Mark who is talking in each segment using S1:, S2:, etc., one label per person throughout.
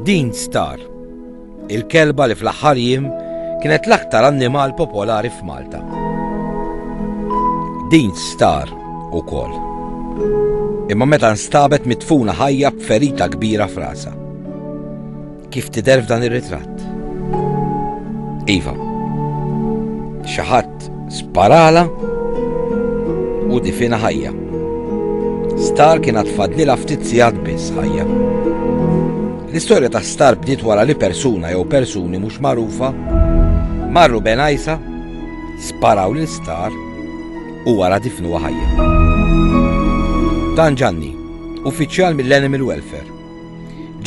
S1: Dean Star, il-kelba li fl-aħħar jiem kienet l-aktar annimal popolari f'Malta. Dean Star ukoll. Imma meta nstabet mitfuna ħajja b'ferita kbira frasa. Kif tidher f'dan ir-ritratt? Iva, xi ħadd Art sparala u difina ħajja. Star kien għatfadlila ftit sigħat biss ħajja. L-istorja ta' Star bdiet wara li persuna jew persuni mhux magħrufa marru benajsa sparaw lil Star u wara difnu ħajja. Dan ġanni, uffiċjal mill-Animal Welfare,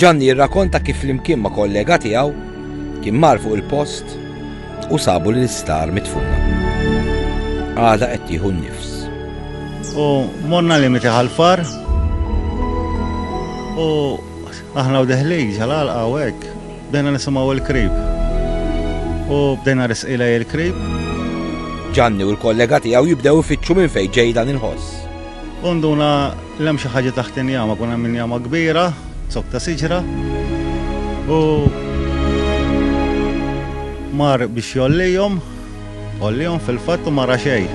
S1: Ġanni jirrakonta kif flimkien ma' kollega tiegħu kien mar fuq il-post u sabu lil Star midfuna. Għadha qed tieħu n-nifs. U
S2: morna limiti ħalfar u aħna u deħlin ġalal għawek bdejna nisimaw il-krib. U bdejna risqila il-krib.
S1: Ġanni u l-kollega tiegħu jibdew ifittxu minn fejn ġej dan il-ħoss. Unduna
S2: Kien hemm xi ħaġa taħt injama, kien hemm injama kbira, zokk ta' siġra, u mar biex jollihom, ollihom fil-fatt u mara xejn.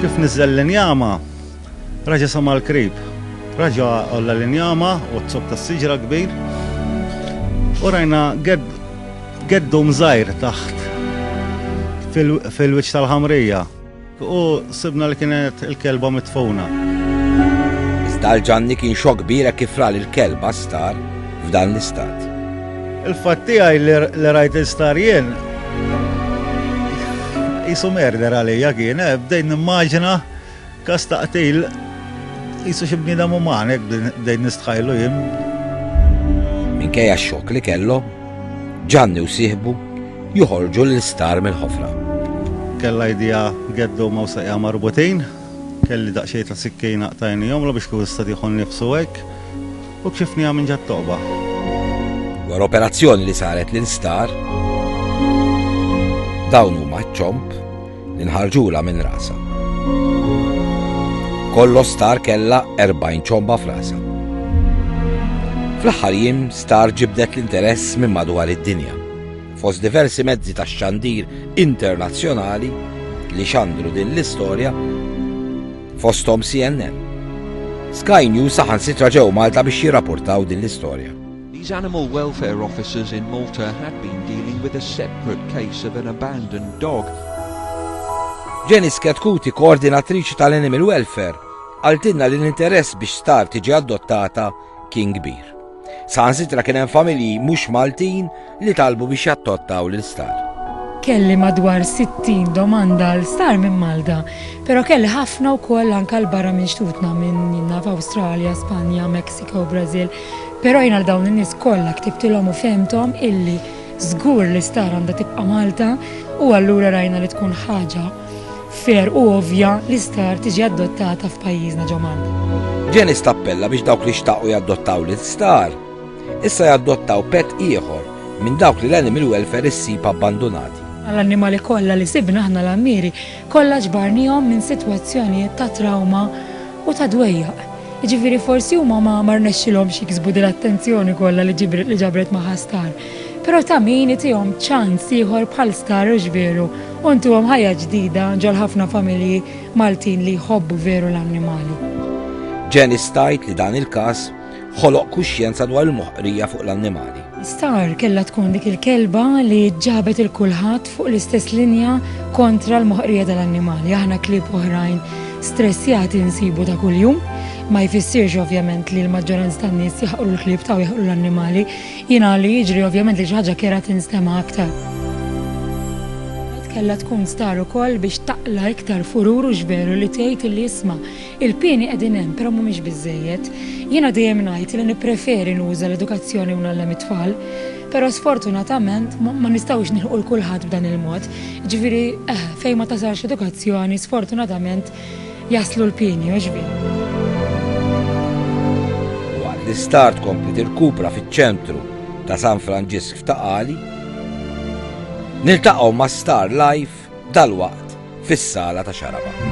S2: Kif niżel l-injama, raġa sama l-krib, raġa olla l-injama u zokk ta' siġra kbir, u rajna geddu mżajr taħt fil-wiċċ tal-ħamrija. U sibna li kienet il-kelba mitfuna.
S1: Iżda għal Ġanni kien xokk kbir hekk kif ra li l-kelba star f'dan l-istat. Il-fatt
S2: tiegħi li rajt il-star jien jisu merder għalija kien, eh, bdejn nimmaġina kas taqtil jisu xi bniedem uman hekk bdejn nistħajlu jien.
S1: Minkejja x-xokk li kellhom, Ġanni u sieħbu joħorġu l-isptar mill-ħofra. Kella
S2: idea geddu ma' saqja marbutin, kelli daqxej ta' sikkina qtajni jomlu biex kif sta diħon nifsu hekk u kxifni minn ġat toqba.
S1: War operazzjoni li saret l-instar, dawn huma ċomp li nħarġula minn rasa. Kollo star kella 40 ċomba f'rasa. Fl-aħħar jim star ġibdet l-interess minn madwar id-dinja. Fost diversi mezzi tax-xandir internazzjonali li xandru din l-istorja, fosthom CNN, Sky News saħansitra ġew Malta biex jirrapportaw din l-istorja. These animal
S3: welfare officers in Malta had been dealing with a separate case of an abandoned dog.
S1: Jenny Sketkouti, koordinatriċi tal-Animal Welfare, qaltilna li l-interess biex star tiġi adottata kien kbir. Saħansitra kien hemm familji mhux Maltin li talbu biex jattottaw lil Star. Kelli
S4: madwar 60 domanda għal Star minn Malta, però kelli ħafna wkoll anke għal barra minn xtutna minn jien naf Awstralja, Spanja, Mexico, Brażil, però jien għal dawn in-nies kollha ktibtilhom u fehmthom illi żgur li Star għandha tibqa' Malta u allura rajna li tkun ħaġa fair u ovvja li star tiġi adottata f'pajjiżna ġo Malta. Janice tappella
S1: biex dawk li xtaqu jaddottaw lil star issa jaddottaw pet ieħor minn dawk li l-Animal Welfare issib abbandunati. Għall-annimali kollha
S4: li sibna aħna l-għammieri kollha ġbarnihom minn sitwazzjonijiet ta' trawma u ta' dwejjaq. Jiġifieri forsi huma ma rnexxilhomx jiksbu din l-attenzjoni kollha li ġabret magħha star. Però ta' min itihom ċans ieħor bħal Star u X'Veru u ntuhom ħajja ġdida ġol ħafna familji Maltin li jħobbu veru l-annimali. Janice
S1: tgħid li dan il-każ ħoloq kuxjenza dwar il-moħqrija fuq l-annimali. Star kellha
S4: tkun dik il-kelba li ġabet 'il kulħadd fuq l-istess linja kontra l-moħqrija tal-annimali. Aħna klieb oħrajn stressjati nsibu ta' kuljum. Ma jfissirx ovvjament li l-maġġoranza tan-nies jaħqru l-klieb ta' u jaħqru l-annimali. Jiena li jiġri ovvjament li xi ħaġa kera tinstema' aktar. Kienet kellha tkun star ukoll biex taqla' iktar furur u x'veru li tgħid illi isma', il-pieni qegħdin hemm però mhumiex biżżejjed. Jiena dejjem ngħid li nippreferi nuża l-edukazzjoni u ngħallem it-tfal. Però sfortunatament ma nistgħux nilħqu 'l kulħadd b'dan il-mod. Jiġifieri, eħe, fejn ma tasalx l-edukazzjoni sfortunatament, jaslu l-pieni għoxbin.
S1: Waqt li Star tkompli tirkupra fiċ-ċentru ta' San Franġisk f'Ta' Qali, niltaqgħu ma' Star Life dalwaqt fis-sala ta' Xaraba.